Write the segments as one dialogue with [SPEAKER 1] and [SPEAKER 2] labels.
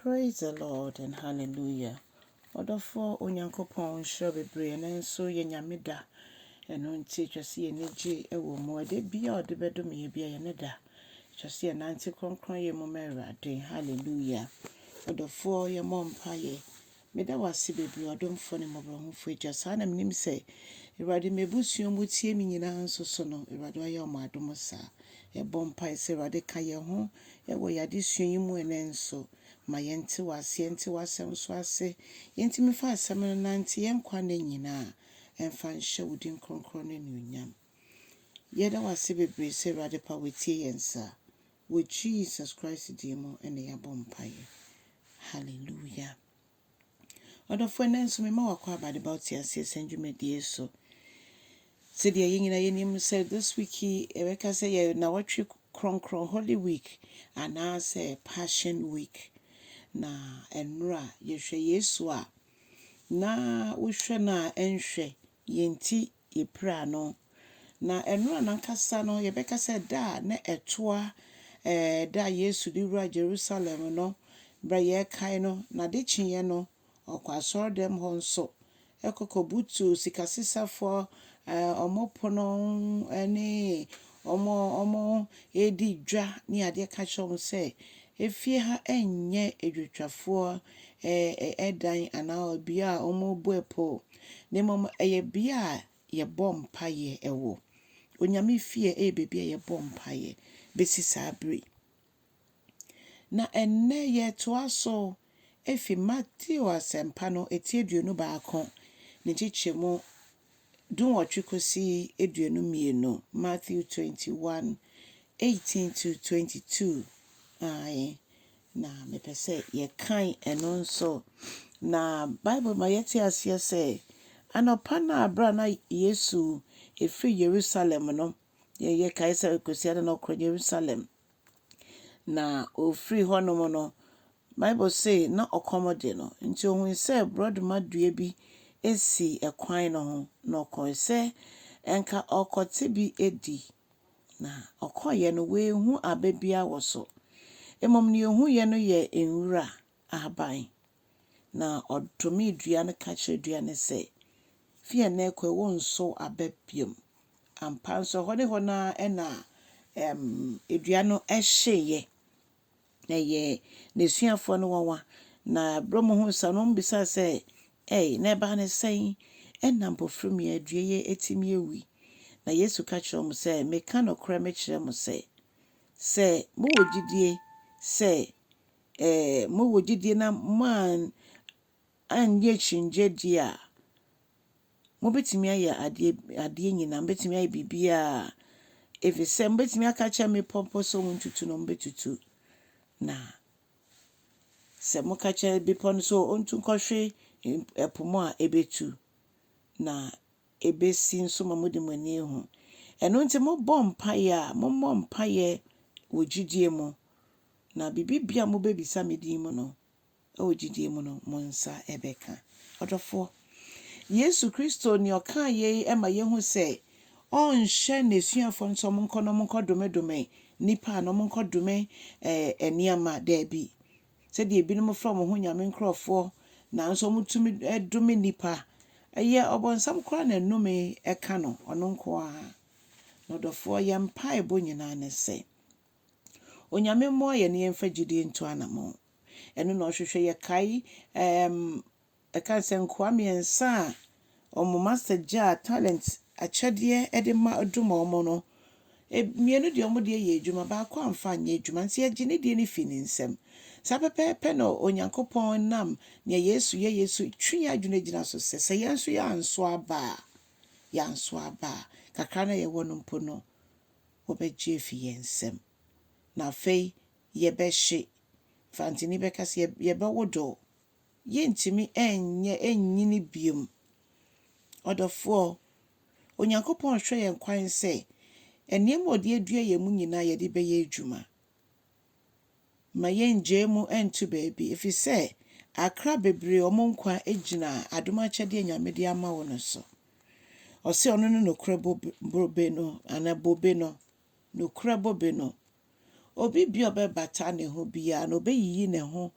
[SPEAKER 1] Praise the Lord and hallelujah ɔdɔfoɔ Onyankopɔn nhyira wo bebree ɛnɛ nso yɛ Nyame da ɛno nti ɛtwa sɛ yɛn ani gye ɛwɔ mu ɛda biara a ɔde bɛdome yɛ biara yɛ ne da ɛtwa sɛ yɛnante kronkron yɛ mu ma Awurade hallelujah ɔdɔfoɔ yɛmmɔ mpaeɛ Meda wo ase bebree ɔdomfo ne mmɔborɔhufo Agya. Saa na menim sɛ Awurade m'abusua ɔmo tie me nyinaa nso so no Awurade wayɛ ɔmo adom saa. Yɛbɔ mpae sɛ Awurade ka yɛn ho wɔ yɛn adesua yi mu ɛnɛ nso. Ma yɛnte w'ase, yɛnte w'asɛm nso ase, yɛntumi mfa asɛm no nnante yɛn nkwa nna nyinaa, ɛmfa nhyɛ wo din kronkron no anuonyam. Yɛda wo ase bebree sɛ Awurade pa woatie yɛn saa. Wɔ Jesus Christ din mu na yɛabɔ mpaeɛ. Hallelujah. Ɔdɔfoɔ ɛnnɛ nso mema wo akwaaba de ba wo teaseɛ sɛn dwumadie so. Sɛdeɛ yɛn nyinaa yɛnim sɛ this week yi ɛbɛka sɛ yɛ nawɔtwe kronkron Holy Week anaasɛ Passion Week. Na ɛnora yɛhwɛ Yesu a na wohwɛ no a ɛnhwɛ yɛn ti yɛpiraa no. Na nnora no ankasa no, yɛbɛka sɛ da a na ɛtoa da a Yesu de wuraa Jerusalem no, berɛ a yɛrekae no, na ade kyeeɛ no, ɔkɔɔ asɔredɛm hɔ nso kɔkɔbutuu sikasesafoɔ wɔn pono ne wɔn redi dwa ne adeɛ ka kyerɛɛ wɔn sɛ, Efie ha nyɛ adwotwafoɔ dan anaa bea a wɔbɔ apoo. na mmom ɛyɛ bea a yɛbɔ mpaeɛ wɔ. Onyame fie yɛ baabi a yɛbɔ mpaeɛ bɛsi saa berɛ yi. Na ɛnnɛ yɛtoa so efi Mateo asɛmpa no ti aduonu baako ne nkyekyɛmu dunwɔtwe kɔsi aduonu mmienu, Matthew 21, 18 to 22. Ae. Na mepɛ sɛ yɛkan ɛno nso. Na Bible ma yɛte aseɛ sɛ, anɔpa no a berɛ a na Yesu ɛfiri Yerusalem no, yɛ yɛkae sɛ Kwasiada na ɔkɔ Yerusalem. Na ɔfiri hɔnom no, Bible se na ɔkɔm de no, nti ɔhui sɛ borɔdoma dua bi si ɛkwan no ho, na ɔkɔe sɛ ɛnka ɔrekɔte bi adi. Na ɔkɔeɛ no, wanhu aba biara wɔ so. Mmom deɛ ɔhuiɛ no yɛ nwura ahaban. Na ɔdomee dua no ka kyerɛɛ dua no sɛ, Fi ɛnnɛ rekɔ yi, worensow aba bio. Ampa ara nso, ɛhɔ ne hɔ no ara na dua no hyeeɛ. Ɛyɛɛ n'asuafoɔ no nwanwa, na berɛ ɔmo huu saa no, ɔmo bisaa sɛ, Ei, na ɛbaa no sɛn na mpofirmyɛ dua yi atumi awui? Na Yesu ka kyerɛɛ ɔmo sɛ, Meka nokorɛ mekyerɛ mo sɛ, sɛ mowɔ gyidie sɛ ɛɛ, mowɔ gyidie na moan, annyɛ akyinnyeɛ die a, Mobɛtumi ayɛ adeɛ adeɛ nyinaa, mobɛtumi ayɛ biribiara ɛfiri sɛ mobɛtumi aka akyerɛ mmepɔ mpo sɛ wɔntutu na wɔbɛtutu. Na sɛ moka kyerɛ bepɔ no sɛ ɔntu nkɔhwe ɛpo mu a ɛbɛtu na ɛbɛsi nso ma mode mo ani ahu. Ɛno nti mobɔ mpaeɛ a mommɔ mpaeɛ wɔ gyidie mu na biribi bia mobɛbisa me din mu no wɔ gyidie mu no, mo nsa bɛka. Ɔdɔfoɔ, Yesu Kristo ne ɔkaa yei ma yɛhu sɛ ɔnhyɛ n'asuafoɔ no sɛ wɔnkɔ na wɔnkɔ domedome nnipa anaa wɔnkɔ dome eh, nneɛma. Daabi. Sɛdeɛ ebinom frɛ wɔn ho nyame nkurɔfoɔ nanso wɔtumi eh, dome nnipa. Ɛyɛ ɔbɔnsam koraa na nnome ɛka no, ɔno nko ara. Na ɔdɔfoɔ, yɛn mpaebɔ nyinaa ne sɛ, Onyame mmoa yɛne yɛmfa gyidie ntu anamɔn. Ɛno na ɔhwehwɛ. Yɛkae ɛɛm ɛka no sɛ nkoa mmiɛnsa a wɔn master gyaa talent, akyɛdeɛ, de ma dom wɔn no, mmienu deɛ wɔn deɛ yɛɛ adwuma, baako amfa anyɛ adwuma. Nti yɛgye ne deɛ no firi ne nsam. Saa pɛpɛɛpɛ na Onyankopɔn nam nea Yesu yɛeɛ so twe yɛn adwene gyina so sɛ, sɛ yɛn nso yɛanso aba a, yɛanso aba a, kakra no a yɛwɔ no mpo no, wɔbɛgye afi yɛn nsam. Na afei yɛbɛhye. Mfantsini bɛka sɛ, Yɛbɛwodoow. Yɛrentumi nyɛ nnyini bio. Ɔdɔfoɔ, Onyankopɔn rehwɛ yɛn kwan sɛ nneɛma a ɔde adua yɛn mu nyinaa yɛde bɛyɛ adwuma. Ma yɛnngyae mu nntu baabi, ɛfiri sɛ akra bebree wɔn nkwa gyina adom akyɛdeɛ a Nyame de ama wo no so. Ɔse ɔno ne nokorɛ bobe no, anaa bobe no, nokorɛ bobe no. Obi bia ɔbɛbata ne ho biara no, ɔbɛyiyi ne ho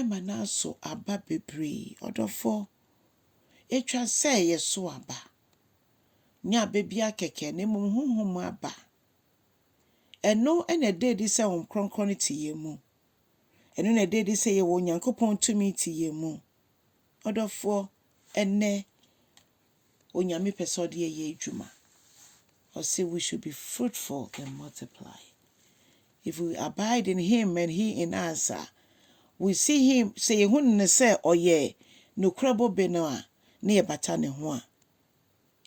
[SPEAKER 1] ma no aso aba bebree. Ɔdɔfoɔ, ɛtwa sɛ yɛso aba, nyɛ aba biara kɛkɛ, na mmom honhom aba. Ɛno na ɛda adi sɛ Honhom Kronkron no te yɛn mu. Ɛno na ɛda adi sɛ yɛwɔ Onyankopɔn tumi te yɛn mu. Ɔdɔfoɔ, ɛnnɛ Onyame pɛ sɛ ɔde yɛn yɛ adwuma. Ɔse we should be fruitful and multiply. If we abide in Him and He in us a, we see Him, sɛ yɛhunu No sɛ ɔyɛ nokorɛ bobe no a, na yɛbata Ne ho a,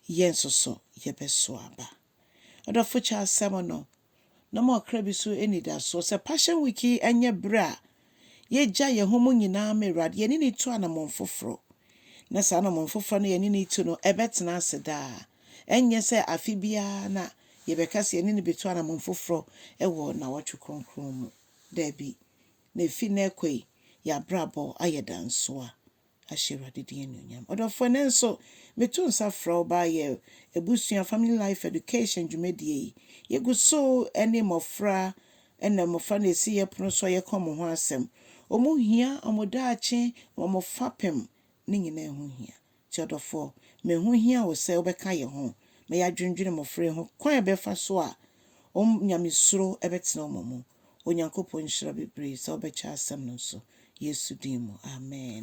[SPEAKER 1] yɛn nso so yɛbɛso aba. Ɔdɔfo Charles Sermon no, na ɔma ɔkra bi so anidaso. Sɛ Passion Week yi nyɛ bere a yegyae yɛn ho mu nyinaa ma Awurade, yɛne no tu anammɔn foforo, na saa anammɔn foforo no a yɛne no retu no, ɛbɛtena ase daa. Ɛnyɛ sɛ afe biara na yɛbɛka sɛ yɛne no betu anammɔn foforo wɔ nnawɔtwe kronkron mu. Dabi, na efi nnɛ rekɔ yi, yɛn abrabɔ ayɛ dansoa. ahyɛ Awurade din anuonyam. Ɔdɔfoɔ, nanso meto nsa frɛ wo baa yɛ abusua Family Life Education dwumadie yi. Yɛgu so ne mmɔfra na mmɔfra na ɛsi yɛ pono so a yɛka wɔn ho asɛm. Wɔn hia, wɔn daakye, wɔn fapem, ne nyinaa ɛho hia. Nti ɔdɔfoɔ, ma ɛho hia wo sɛ wobɛka yɛ ho ma yɛadwendwene mmɔfra yi ho kwan a ɛbɛfa so a wɔn nyamesuro bɛtena wɔn mu. Onyankopɔn nhyira bebree sɛ wobɛkyɛ asɛm no nso. Yesu din mu, amen.